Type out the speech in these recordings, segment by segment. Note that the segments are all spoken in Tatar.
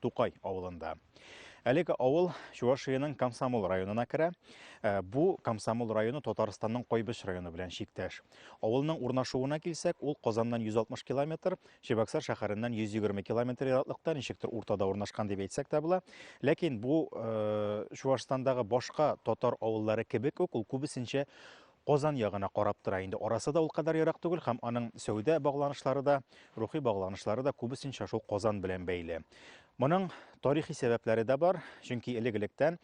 Тукай авылында. Әлеге авыл Чувашиянең Комсомол районына керә. Э, бу Комсомол районы Татарстанның Кайбыч районы белән чиктәш. Авылның урнашуына килсәк, ул Казаннан 160 километр, Чебоксар шәһәреннән 120 километр ераклыкта, ничектер уртада урнашкан дип әйтсәк тә була. Ләкин бу э, Чувашстандагы башка татар авыллары кебек үк, ул күбесенчә Казан ягына карап тора инде. Арасы да ул кадәр ерак түгел һәм аның сәүдә багланышлары да, рухи багланышлары да күбесенчә шул Казан белән бәйле. Моның тарихи сәбәпләре дә бар, чөнки элек-электән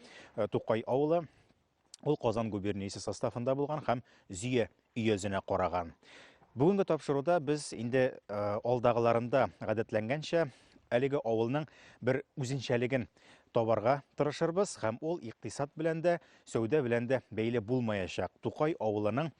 Тукай авылы ул Казан губерниясе составында булган һәм Зөя өязенә караган. Бүгенге тапшыруда без инде алдагыларында гадәтләнгәнчә әлеге авылның бер үзенчәлеген табарга тырышырбыз һәм ул икътисад белән дә, сәүдә белән дә бәйле булмаячак. Тукай авылының,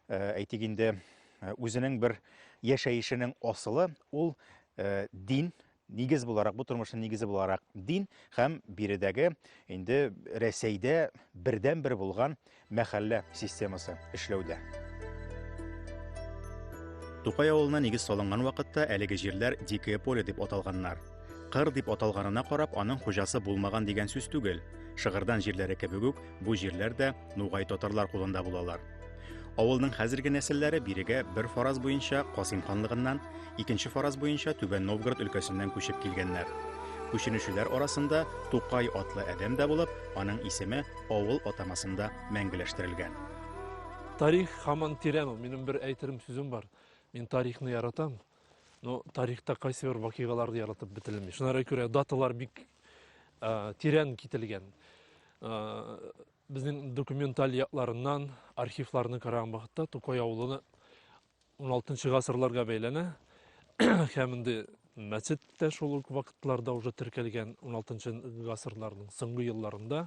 э, әйтик инде, э, үзенең бер яшәешенең асылы ул э, дин, нигез буларак, бу тормышның нигезе буларак дин һәм биредәге инде Рәсәйдә бердән бер булган мәхәллә системасы эшләүдә. Тукай авылына нигез салынган вакытта әлеге җирләр дикое поле дип аталганнар. Кыр дип аталганына карап, аның хуҗасы булмаган дигән сүз түгел. Шыгырдан җирләре кебек үк, бу җирләр дә нугай татарлар кулында булалар. Авылның хәзерге нәселләре бирегә бер фараз буенча Касыйм ханлыгыннан, икенче фараз буенча Түбән Новгород өлкәсеннән күчеп килгәннәр. Күченүчеләр арасында Тукай атлы адәм дә булып, аның исеме авыл атамасында мәңгеләштерелгән. Тарих хаман тирән ул. Минем бер әйтерем сүзем бар. Мин тарихны яратам. Ну, тарихта кайсы бер вакыйгалар да яратып бетелми. Шунара күрә даталар бик ә, тирән кителгән. Ә, безнең документаль якларыннан архивларны караган вакытта Тукай авылы 16 гасырларга бәйләнә. Һәм инде мәчет тә шул ук вакытларда уже теркәлгән 16 гасырларның соңгы елларында.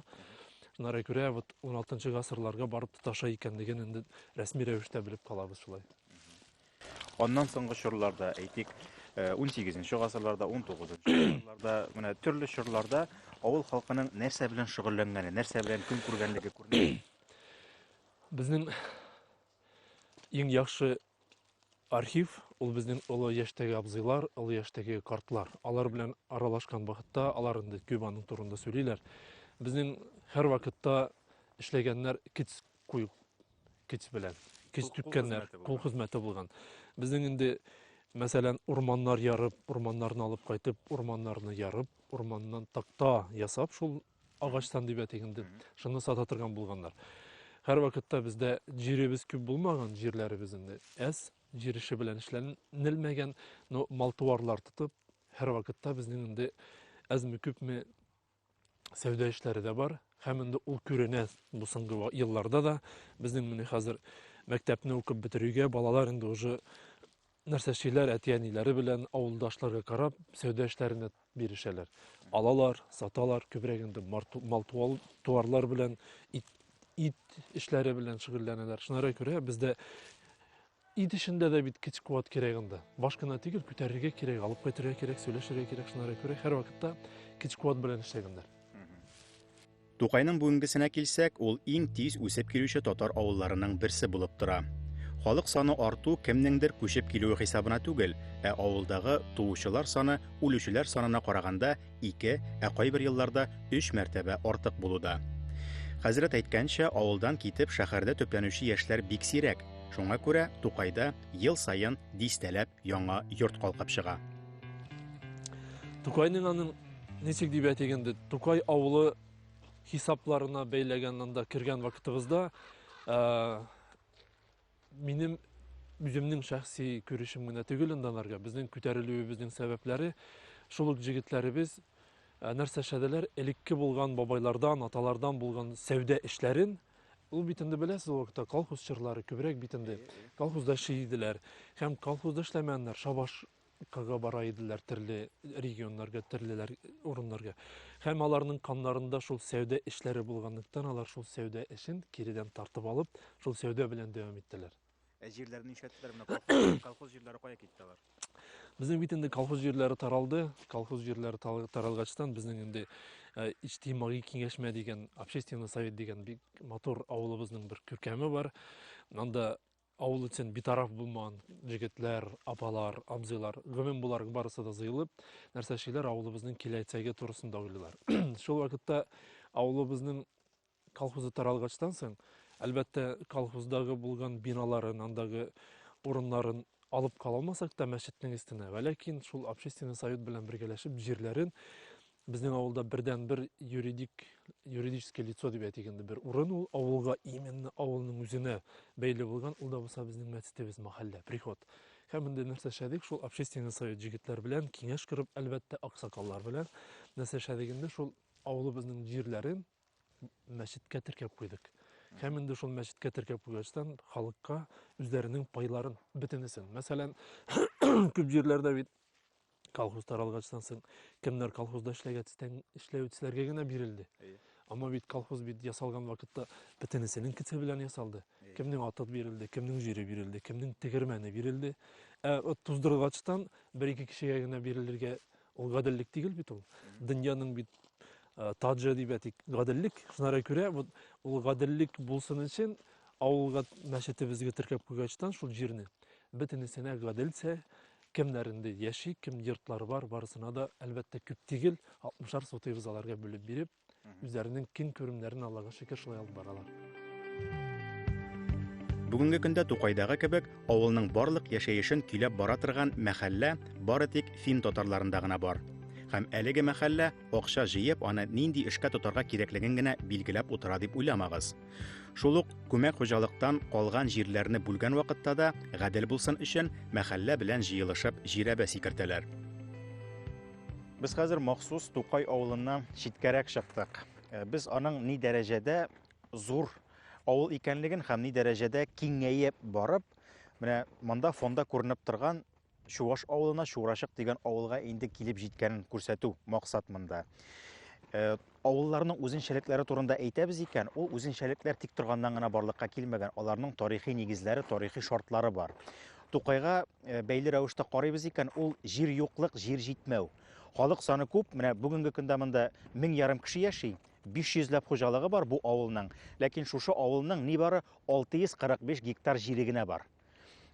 Шунара күрә вот 16 гасырларга барып тоташа икәнлеген инде рәсми рәвештә белеп калабыз шулай. Аннан соңгы чорларда, әйтик, 18-нче гасырларда, 19-нчы гасырларда, менә төрле чорларда авыл халкының нәрсә белән шөгыльләнгәне, нәрсә белән көн күргәнлеге күренә. Безнең иң яхшы архив ул безнең олы яшьтәге абзыйлар, олы яшьтәге картлар. Алар белән аралашкан вакытта алар инде Кюбаның турында сөйлиләр. Безнең һәрвакытта эшләгәннәр киц куй көч белән. Көч түккәннәр, кул хезмәте булган. Безнең инде, мәсәлән, урманнар ярып, урманнарны алып кайтып, урманнарны ярып, урманнан такта ясап, шул агачтан дип әйтик инде, шуны сата торган булганнар. Һәр вакытта бездә җиребез күп булмаган, җирләребез инде әз, җир эше белән эшләнелмәгән, но мал-туарлар тотып, һәр вакытта безнең инде әзме-күпме сәүдә эшләре дә бар һәм инде ул күренә бу соңгы елларда да безнең менә хәзер мәктәпне укып бетерүгә балалар инде уже нәрсә эшлиләр әти әниләре белән авылдашларга карап сәүдә эшләренә бирешәләр алалар саталар күбрәк инде мал туарлар белән ит, ит эшләре белән шөгыльләнәләр шунара күрә бездә Ит эчендә дә бит көч куәт кирәк анда. Баш кына түгел, күтәрергә кирәк, алып кайтырга кирәк, сөйләшергә кирәк, шунара күрә һәр вакытта көч куәт белән эшләгәннәр. Тукайның бүгенгесенә килсәк, ул иң тиз үсеп килүче татар авылларының берсе булып тора. Халык саны арту кемнеңдер күчеп килүе хисабына түгел, ә авылдагы туучылар саны үлүчеләр санына караганда ике, ә кайбер елларда өч мәртәбә артык булу да. Хәзрәт әйткәнчә, авылдан китеп шәһәрдә төпләнүче яшьләр бик сирәк. Шуңа күрә Тукайда ел саен дистәләп яңа йорт калкып чыга. Тукайның аның ничек дип әйтик инде, Тукай авылы хисапларына бәйләгән анда кергән вакытыбызда, э, Минем үземнең шәхси күрешем генә түгел инде аларга. Безнең күтәрелүебезнең сәбәпләре шул ук җегетләребез ә, нәрсә эшләделәр? Элекке булган бабайлардан, аталардан булган сәүдә эшләрен Ул бит инде беләсез, ул вакытта колхоз чорлары күбрәк бит инде. Колхозда эшли иделәр. Һәм колхозда эшләмәгәннәр, шабаш кырга бара иделәр төрле регионнарга, төрлеләр урыннарга. Һәм аларның каннарында шул сәүдә эшләре булганлыктан, алар шул сәүдә эшен киредән тартып алып, шул сәүдә белән дәвам иттеләр. Ә җирләрне нишләттеләр? Менә колхоз, колхоз җирләре кая китте алар? Безнең бит инде колхоз җирләре таралды. Колхоз җирләре таралгачтан безнең инде э, иҗтимагый киңәшмә дигән, общественный совет дигән бик матур авылыбызның бер күркәме бар. Анда Авыл өчен битараф булмаган җегетләр, апалар, абзыйлар, гомум буларак барысы да җыелып, нәрсә эшлиләр, авылыбызның киләчәге турысында уйлыйлар. Шул вакытта авылыбызның колхозы таралгачтан соң, әлбәттә, колхоздагы булган биналарын, андагы урыннарын алып кала алмасак та мәчетнең өстенә, вәләкин шул общественный совет белән бергәләшеп җирләрен Безнең авылда бердән-бер юридик, юридическое лицо дип әйтик инде бер урын ул авылга, именно авылның үзенә бәйле булган, ул да булса безнең мәчетебез, мәхәллә, приход. Һәм инде нәрсә эшләдек, шул общественный совет җегетләр белән киңәш корып, әлбәттә, аксакаллар белән нәрсә эшләдек инде, шул авылыбызның җирләрен мәчеткә теркәп куйдык. Һәм инде шул мәчеткә теркәп куйгачтан халыкка үзләренең пайларын бөтенесен. Мәсәлән, күп җирләрдә бит колхоз таралгачтан соң кемнәр колхозда эшләгә тистән эшләүчеләргә генә бирелде әмма бит колхоз бит ясалган вакытта бөтенесенең кете белән ясалды кемнең аты бирелде кемнең җире бирелде кемнең тегермәне бирелде ә вот туздыргачтан бер ике кешегә генә бирелергә ул гаделлек түгел бит ул дөньяның бит э, таҗы дип әйтик гаделлек шунара күрә вот ул гаделлек булсын өчен авылга мәчетебезгә теркәп куйгачтан шул җирне бөтенесенә гаделчә Кемнәр инде яши, кем йортлары бар, барысына да, әлбәттә, күп тигел, 60-ар сотый ризаларга бүлеп биреп, үзләренең киң күремнәрен Аллага шөкер шулай алып баралар. Бүгенге көндә Тукайдагы кебек авылның барлык яшәешен көйләп бара торган мәхәллә бары тик фин татарларында гына бар. Һәм әлеге мәхәллә акча җыеп аны нинди эшкә тотарга кирәклеген генә билгеләп утыра дип уйламагыз. Шул ук күмәк хуҗалыктан калган җирләрне бүлгән вакытта да гадел булсын өчен мәхәллә белән җыелышып җирәбә сикертәләр. Без хәзер махсус Тукай авылыннан читкәрәк чыктык. Э, без аның ни дәрәҗәдә зур авыл икәнлеген һәм ни дәрәҗәдә киңәеп барып, менә монда фонда күренеп торган Чуваш авылына Чурачык дигән авылга инде килеп җиткәнен күрсәтү максат монда. Э, авылларның үзенчәлекләре турында әйтәбез икән, ул үзенчәлекләр тик торганнан гына барлыкка килмәгән, аларның тарихи нигезләре, тарихи шартлары бар. Тукайга э, бәйле рәвештә карыйбыз икән, ул җир юклык, җир җитмәү. Халык саны күп, менә бүгенге көндә монда мең ярым кеше яши, 500 ләп хуҗалыгы бар бу авылның, ләкин шушы авылның нибары 645 гектар җире генә бар.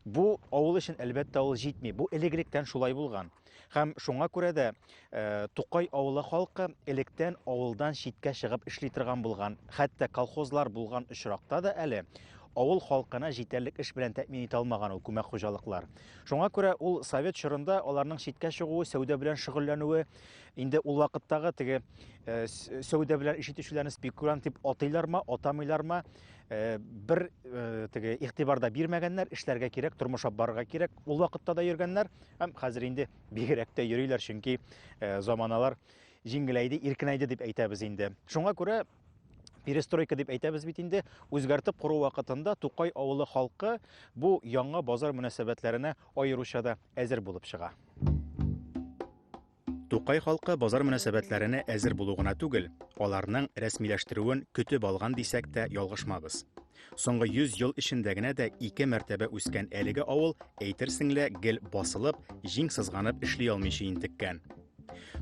Бу авыл өчен әлбәттә ул җитми. Бу элек-электән шулай булган. Һәм шуңа күрә дә э, Тукай авылы халкы электән авылдан читкә чыгып эшли торган булган. Хәтта колхозлар булган очракта да әле авыл халкына җитәрлек эш белән тәэмин итә алмаган ул күмәк хуҗалыклар. Шуңа күрә ул совет чорында аларның читкә чыгуы, сәүдә белән шөгыльләнүе, инде ул вакыттагы теге э, сәүдә белән эш итүчеләрне спекулянт дип атыйлармы, атамыйлармы, Э, бер э, теге игътибарда бирмәгәннәр эшләргә кирәк тормыш алып барырга кирәк ул вакытта да йөргәннәр һәм хәзер инде бигрәк тә йөриләр чөнки э, заманалар җиңеләйде иркенәйде дип әйтәбез инде шуңа күрә перестройка дип әйтәбез бит инде үзгәртеп кору вакытында тукай авылы халкы бу яңа базар мөнәсәбәтләренә аеруча да әзер булып чыга Тукай халкы базар мөнәсәбәтләренә әзер булу гына түгел, аларның рәсмиләштерүен көтеп алган дисәк тә ялгышмабыз. Соңгы 100 ел эчендә генә дә ике мәртәбә үскән әлеге авыл, әйтерсең лә, гел басылып, җиң сызганып эшли алмыйча интеккән.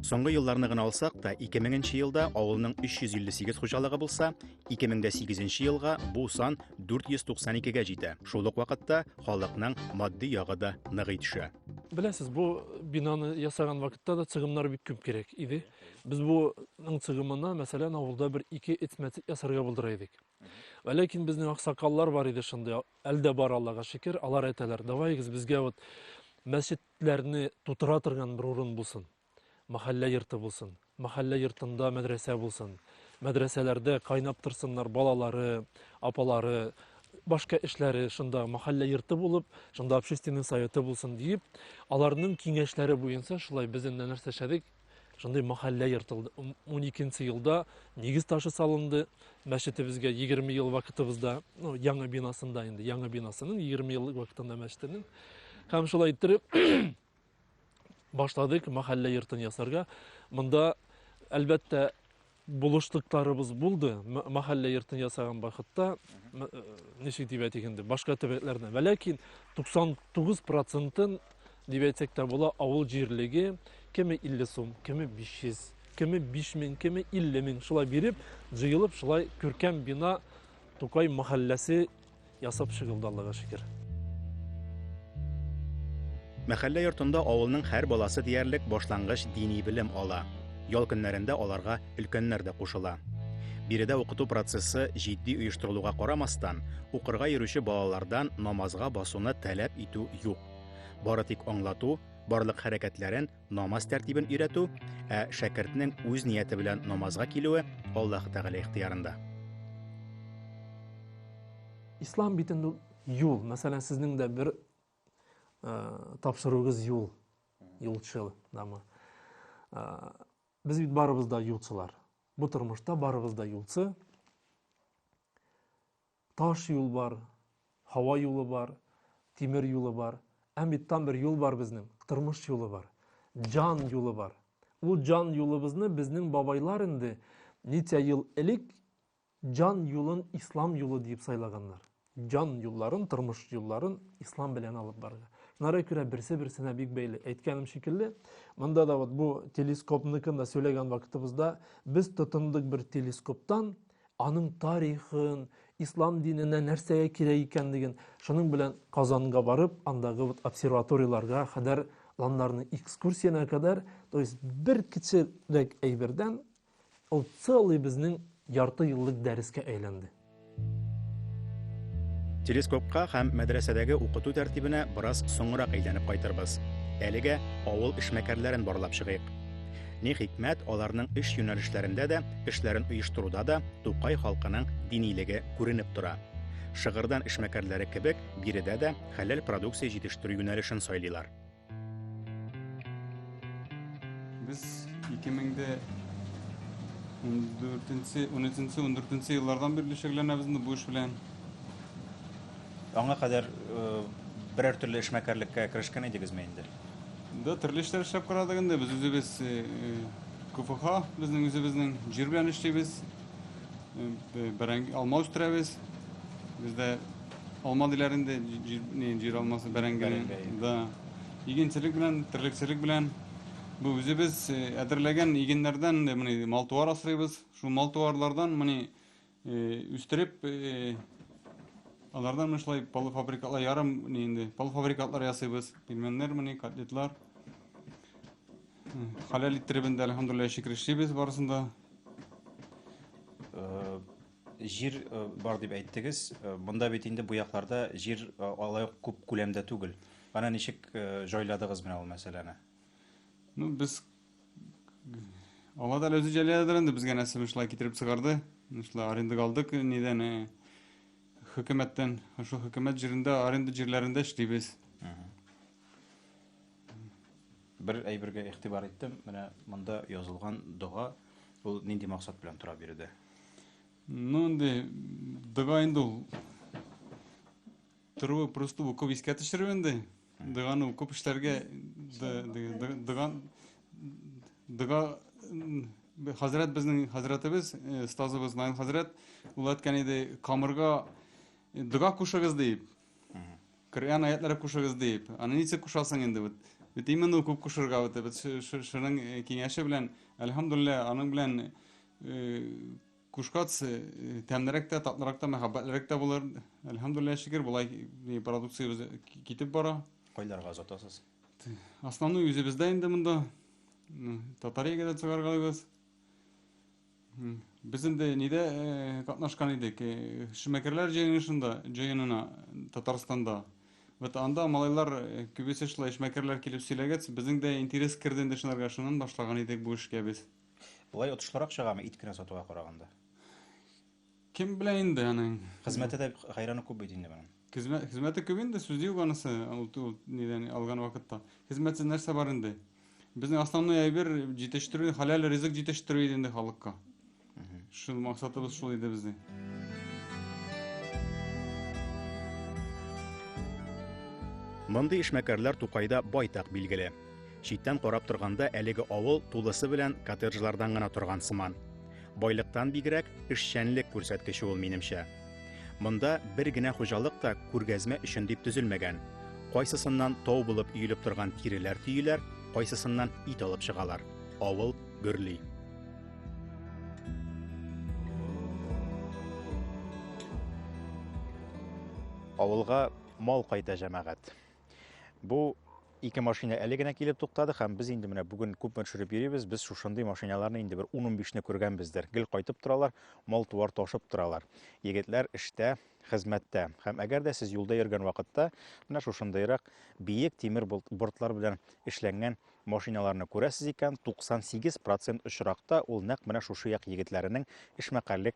Соңгы елларны гына алсак та, 2000 нче елда авылның 358 хуҗалыгы булса, 2008 елга бу сан 492 гә җитә. Шул ук вакытта халыкның матди ягы да ныгый төшә. Беләсез, бу бинаны ясаган вакытта да цыгымнар бик күп кирәк иде. Без буның цыгымына, мәсәлән, авылда бер ике этмәтик ясарга булдыра идек. Ә ләкин безнең аксакаллар бар иде шундый, әлдә бар Аллага шөкер, алар әйтәләр, давайгыз безгә вот мәчетләрне тутыра торган бер урын булсын. Мәхәллә йорты булсын, мәхәллә йортында мәдрәсә булсын, мәдрәсәләрдә кайнап торсыннар балалары, апалары, башка эшләре шунда мәхәллә йорты булып, шунда общественный советы булсын диеп, аларның киңәшләре буенча шулай без инде нәрсә эшләдек, шундый мәхәллә йортылды. 12 елда нигез ташы салынды мәчетебезгә 20 ел вакытыбызда, ну, яңа бинасында инде, яңа бинасының 20 ел вакытында мәчетенең. Һәм шулай иттереп Башладык мәхәллә йортын ясарга. Монда, әлбәттә, булышлыкларыбыз булды. Мәхәллә йортын ясаган вакытта, э, ничек дип әйтик инде, башка төбәкләрдә. Вә ләкин 99 процентын дип әйтсәк тә була, авыл җирлеге кеме 50 сум, кеме 500, кеме 5000, кеме 50 мең шулай биреп, җыелып шулай күркәм бина Тукай мәхәлләсе Ясап чыгылды Аллага шөкер. Мәхәллә йортында авылның һәр баласы диярлек башлангыч дини белем ала. Ял көннәрендә аларга өлкәннәр дә кушыла. Биредә укыту процессы җитди оештырылуга карамастан, укырга йөрүче балалардан намазга басуны таләп итү юк. Бары тик аңлату, барлык хәрәкәтләрен намаз тәртибен өйрәтү, ә шәкертнең үз нияте белән намазга килүе Аллаһ Тәгалә ихтиярында. Ислам бит инде юл. Мәсәлән, сезнең дә бер э, тапшыруыгыз юл, юлчыл, дамы. Э, без бит барыбыз да юлчылар. Бу тормышта барыбыз да юлчы. Таш юл бар, һава юлы бар, тимер юлы бар. Әм бит там бер юл бар безнең, тормыш юлы бар. Җан юлы бар. Ул җан юлыбызны безнең бабайлар инде ничә ел элек җан юлын ислам юлы диеп сайлаганнар. Җан юлларын, тормыш юлларын ислам белән алып барырга. Шунара күрә берсе берсенә бик бәйле. Әйткәнем шикелле, монда да вот бу телескопныкын да сөйләгән вакытыбызда без тотындык бер телескоптан, аның тарихын, ислам диненә нәрсәгә кирәк икәнлеген, шуның белән Казанга барып, андагы вот обсерваторияларга кадәр, анларның экскурсиясенә кадәр, то есть бер кечерәк әйбердән ул целый безнең ярты еллык дәрескә әйләнде. Телескопка һәм мәдрәсәдәге укыту тәртибенә бераз соңрак әйләнеп кайтырбыз. Әлегә авыл эшмәкәрләрен барлап чыгыйк. Ни хикмәт, аларның эш юнәлешләрендә дә, эшләрен оештыруда да Тукай халкының динилеге күренеп тора. Шыгырдан эшмәкәрләре кебек, биредә дә хәләл продукция җитештерү юнәлешен сайлыйлар. Без 2013-14 еллардан бирле шөгыльләнәбез бу эш белән. Аңа кадәр берәр төрле эшмәкәрлеккә керешкән идегезме инде? Да, төрле эшләр эшләп карадык инде. Без үзебез КФХ, безнең үзебезнең җир белән эшлибез. Бәрәңге, алма үстерәбез. Бездә алма диләр инде, җир алмасы, бәрәңге. Да. Игенчелек белән, терлекчелек белән Бу үзебез әзерләгән игеннәрдән менә малтуар асрыйбыз. Шул малтуарлардан менә Үстереп, алардан менә шулай полуфабрикатлар, ярым ни инде, полуфабрикатлар ясыйбыз. Пельменнар мени, котлетлар. Халәл иттереп инде, әлхәмдулилла, шөкер эшлибез барысын да. Э, җир э, бар дип әйттегез. Э, монда бит инде бу якларда җир алай ук күп күләмдә түгел. Ана ничек җайладыгыз менә ул мәсьәләне? Ну, без Алла да үзе җәләдер инде безгә нәрсә шулай китереп чыгарды. Шулай арендага алдык нидән э, хөкүмәттән. Шул хөкүмәт җирендә аренда җирләрендә эшлибез. Бер әйбергә игътибар иттем. Менә монда язылган дога ул нинди максат белән тора биредә? Ну инде дога инде ул Торуы просто укып искә төшерү инде. Доганы укып эшләргә дога дога хәзрәт безнең хәзрәтебез, э, стазыбыз Найн хәзрәт ул әйткән иде, камырга э, дога кушыгыз дип. Коръән аятлары кушыгыз дип. Аны ничек кушасың инде бит? Бит именно укып кушырга бит. Бит шуның э, киңәше белән, әлхәмдулилла, аның белән Кушкац тәмлерәк тә, татлырак та, мәхәббәтлерәк тә булыр. Әлхәмдулиллаһ шөкер, болай продукциябез китеп бара. Кайларга озатасыз? Основной үзебездә инде монда. Татариягә дә чыгаргалыйбыз. Без инде нидә катнашкан идек? Шимәкерләр җыенышында, җыенына Татарстанда. Вот анда малайлар күбесе шулай эшмәкәрләр килеп сөйләгәч, безнең дә интерес керде инде шунарга, шуннан башлаган идек бу эшкә без. Болай отышлырак чыгамы ит кенә сатуга караганда? Кем белә инде аның. Хезмәте дә хәйраны күп бит инде моның. Хезмәт хезмәте күп инде, сүз юк анысы, ул ул нидән алган вакытта. Хезмәтсез нәрсә бар инде? Безнең основной әйбер җитештерү, халәл ризык җитештерү иде инде халыкка. Шул максатыбыз шул иде безнең. Мондый эшмәкәрләр Тукайда байтак билгеле. Читтән карап торганда әлеге авыл тулысы белән коттеджлардан гына торган сыман. Байлыктан бигрәк эшчәнлек күрсәткече ул минемчә. Монда бер генә хуҗалык та күргәзмә өчен дип төзелмәгән. Кайсысыннан тау булып өелеп торган тиреләр төеләр, кайсысыннан ит алып чыгалар. Авыл гөрли. Авылга мал кайта, җәмәгать. Бу ике машина әле генә килеп туктады һәм без инде менә бүген күпме төшереп йөрибез, без шушындый машиналарны инде бер 10-15-не күргәнбездер. Гел кайтып торалар, мал-туар ташып торалар. Егетләр эштә, хезмәттә. Һәм әгәр дә сез юлда йөргән вакытта менә шушындыйрак биек тимер бортлар белән эшләнгән машиналарны күрәсез икән, 98% очракта ул нәкъ менә шушы як егетләренең эшмәкәрлек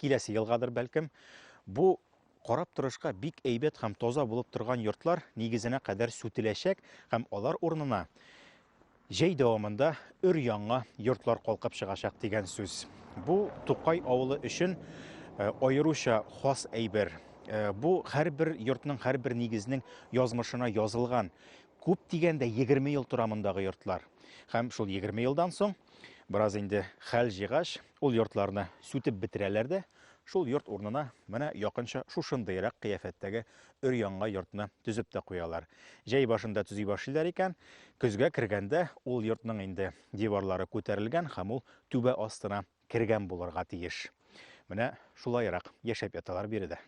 киләсе елгадыр бәлкем, бу карап торышка бик әйбәт һәм таза булып торган йортлар нигезенә кадәр сүтеләчәк һәм алар урынына җәй дәвамында өр яңа йортлар калкып чыгачак дигән сүз. Бу Тукай авылы өчен э, аеруча хас әйбер. Э, бу һәрбер йортның, һәрбер нигезнең язмышына язылган күп дигәндә 20 ел тора мондагы йортлар. Һәм шул 20 елдан соң бераз инде хәл җигач, Ул йортларны сүтеп бетерәләр дә, шул йорт урынына менә якынча шушындыйрак кыяфәттәге өр-яңа йортны төзеп тә куялар. Җәй башында төзи башлыйлар икән, көзгә кергәндә ул йортның инде диварлары күтәрелгән һәм ул түбә астына кергән булырга тиеш. Менә шулаерак яшәп яталар биредә.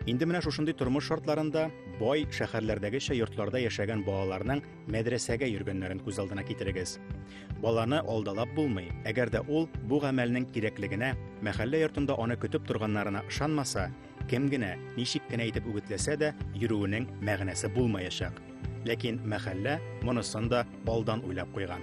Инде менә шушындый тормыш шартларында бай шәһәрләрдәгечә йортларда яшәгән балаларның мәдрәсәгә йөргәннәрен күз алдына китерегез. Баланы алдалап булмый, әгәр дә ул бу гамәлнең кирәклегенә, мәхәллә йортында аны көтеп торганнарына ышанмаса, кем генә, ничек кенә итеп үгетләсә дә, йөрүенең мәгънәсе булмаячак. Ләкин мәхәллә монысын да алдан уйлап куйган.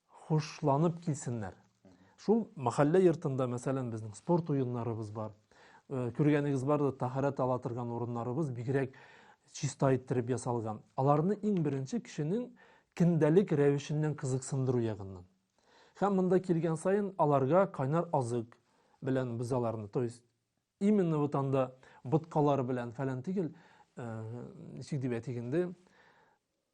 хушланып килсеннәр. Шул мәхәллә йортында, мәсәлән, безнең спорт уеннарыбыз бар. Э, күргәнегез бар да, тәһарәт ала торган урыннарыбыз бигрәк чиста иттереп ясалган. Аларны иң беренче кешенең көндәлек рәвешеннән кызыксындыру ягыннан. Һәм монда килгән саен аларга кайнар азык белән без аларны, то есть именно вот анда боткалар белән фәлән түгел, э, ничек дип әйтик инде,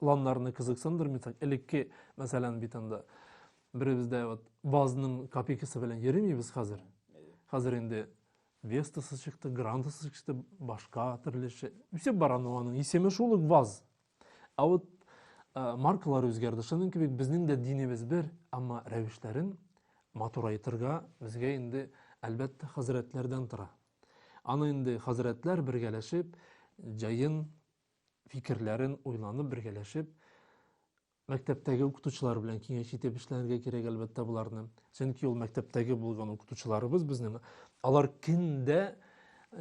ланнарны кызыксындырмыйсың элекке мәсәлән бит анда беребез дә вот вазның копейкасы белән йөримибез хәзер хәзер инде вестасы чыкты грандасы чыкты башка төрлече үсеп бара но аның исеме шул ук ваз ә вот ә, маркалар үзгәрде шуның кебек безнең дә динебез бер әмма рәвешләрен матурайтырга безгә инде әлбәттә хәзрәтләрдән тора аны инде хәзрәтләр бергәләшеп җаен фикерләрен уйланып, бергәләшеп, мәктәптәге укытучылар белән киңәш итеп эшләргә кирәк, әлбәттә, буларны. Чөнки ул мәктәптәге булган укытучыларыбыз безнең, алар киндә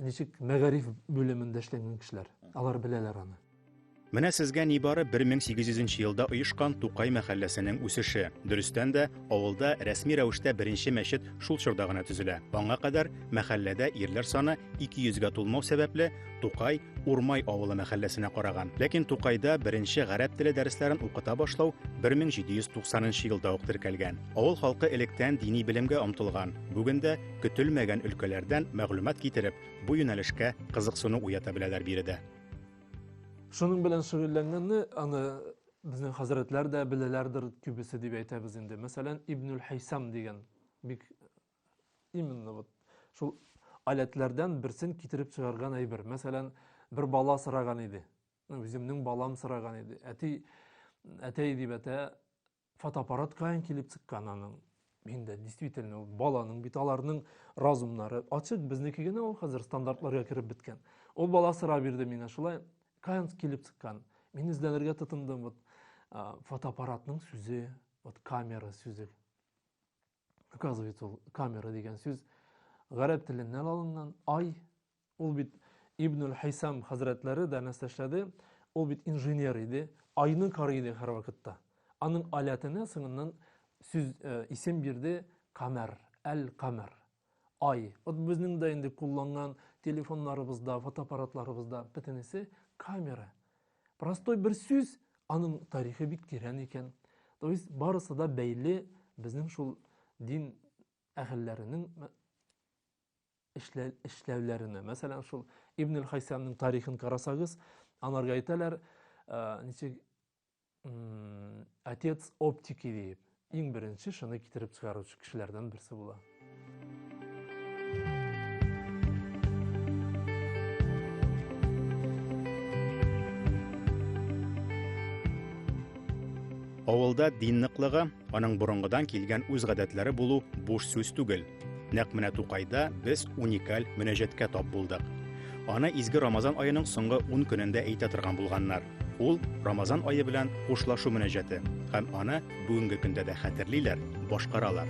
ничек мәгариф бүлемендә эшләгән кешеләр. Алар беләләр аны. Менә сезгә нибары 1800 елда оешкан Тукай мәхәлләсенең үсеше. Дөрестән дә, авылда рәсми рәвештә беренче мәчет шул чорда гына төзелә. Аңа кадәр мәхәлләдә ирләр саны 200 гә тулмау сәбәпле, Тукай Урмай авылы мәхәлләсенә караган. Ләкин Тукайда беренче гарәп теле дәресләрен укыта башлау 1790 елда ук теркәлгән. Авыл халкы электән дини белемгә омтылган. Бүген дә көтелмәгән өлкәләрдән мәгълүмат китереп, бу юнәлешкә кызыксыну уята беләләр биредә. Шуның белән шөгыльләнгәнне аны безнең хәзрәтләр дә беләләрдер күбесе дип әйтәбез инде. Мәсәлән, Ибнул Хәйсам дигән бик именно вот шул аләтләрдән берсен китереп чыгарган әйбер мәсәлән бер бала сораган иде үземнең балам сораган иде әти әтәй дип әтә фотоаппарат каян килеп чыккан аның мин дә действительно ул баланың бит аларның разумнары ачык безнеке генә ул хәзер стандартларга кереп беткән ул бала сорап бирде миңа шулай каян килеп чыккан мин эзләнергә тотындым вот фотоаппаратның сүзе вот камера сүзе Оказывается, ул камера дигән сүз гарәп теленнән алынган. Ай, ул бит Ибн Хисам хәзрәтләре дә нәстәшләде. Ул бит инженер иде, айны карый иде һәрвакытта. Аның алятына соңыннан сүз э, исем бирде камер, әл-камер. Ай, вот безнең дә инде кулланган телефоннарыбызда, фотоаппаратларыбызда бөтенесе камера. Простой бер сүз, аның тарихы бик тирән икән. То есть барысы да бәйле безнең шул дин әһелләренең эшләүләренә. Мәсәлән, шул Ибн Хайсәмнең тарихын карасагыз, анарга әйтәләр, ничек отец оптики дип. Иң беренче шыны китереп чыгаручы кешеләрдән берсе була. Авылда дин ныклыгы, аның борынгыдан килгән үз гадәтләре булу буш сүз түгел. Нәкъ менә Тукайда без уникаль мөнәҗәткә тап булдык. Аны изге Рамазан аеның соңгы 10 көнендә әйтә торган булганнар. Ул Рамазан ае белән хушлашу мөнәҗәте һәм аны бүгенге көндә дә хәтерлиләр, башкаралар.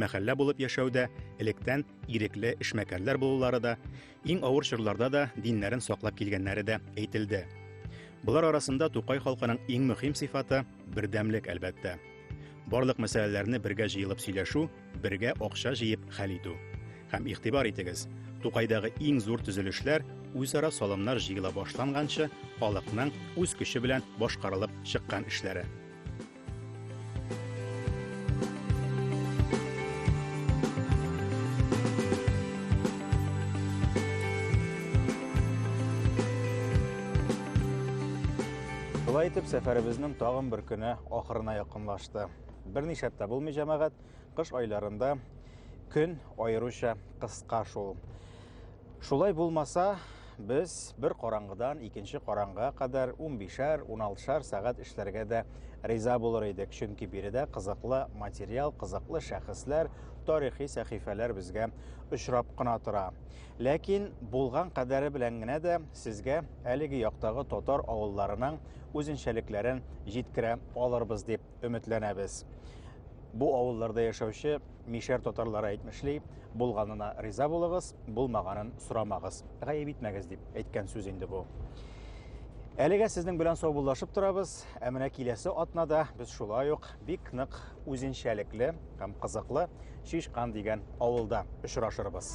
Мәхәллә булып яшәүдә электән ирекле эшмәкәрләр булулары да, иң авыр чорларда да диннәрен саклап килгәннәре дә әйтелде. Болар арасында Тукай халкының иң мөһим сыйфаты бердәмлек, әлбәттә. Барлык мәсьәләләрне бергә җыелып сөйләшү, бергә акча җыеп хәл итү. Һәм игътибар итегез, Тукайдагы иң зур төзелешләр үзара салымнар җыела башланганчы халыкның үз көче белән башкарылып чыккан эшләре. Шулай итеп, сәфәребезнең тагын бер көне ахырына якынлашты. Берничә тә булмый җәмәгать, кыш айларында көн аеруча кыска шул. Шулай булмаса, без бер караңгыдан икенче караңгыга кадәр 15-шәр, 16-шәр сәгать эшләргә дә риза булыр идек, чөнки биредә кызыклы материал, кызыклы шәхесләр, тарихи сәхифәләр безгә очрап кына тора. Ләкин булган кадәре белән генә дә сезгә әлеге яктагы татар авылларының үзенчәлекләрен җиткерә алырбыз дип өметләнәбез. Бу авылларда яшәүче Мишәр татарлары әйтмешли, булганына риза булыгыз, булмаганын сорамагыз. Гаеп итмәгез дип әйткән сүз инде бу. Әлегә сезнең белән саубуллашып торабыз, ә менә киләсе атнада без шулай ук бик нык үзенчәлекле һәм кызыклы Шишкан дигән авылда очрашырбыз.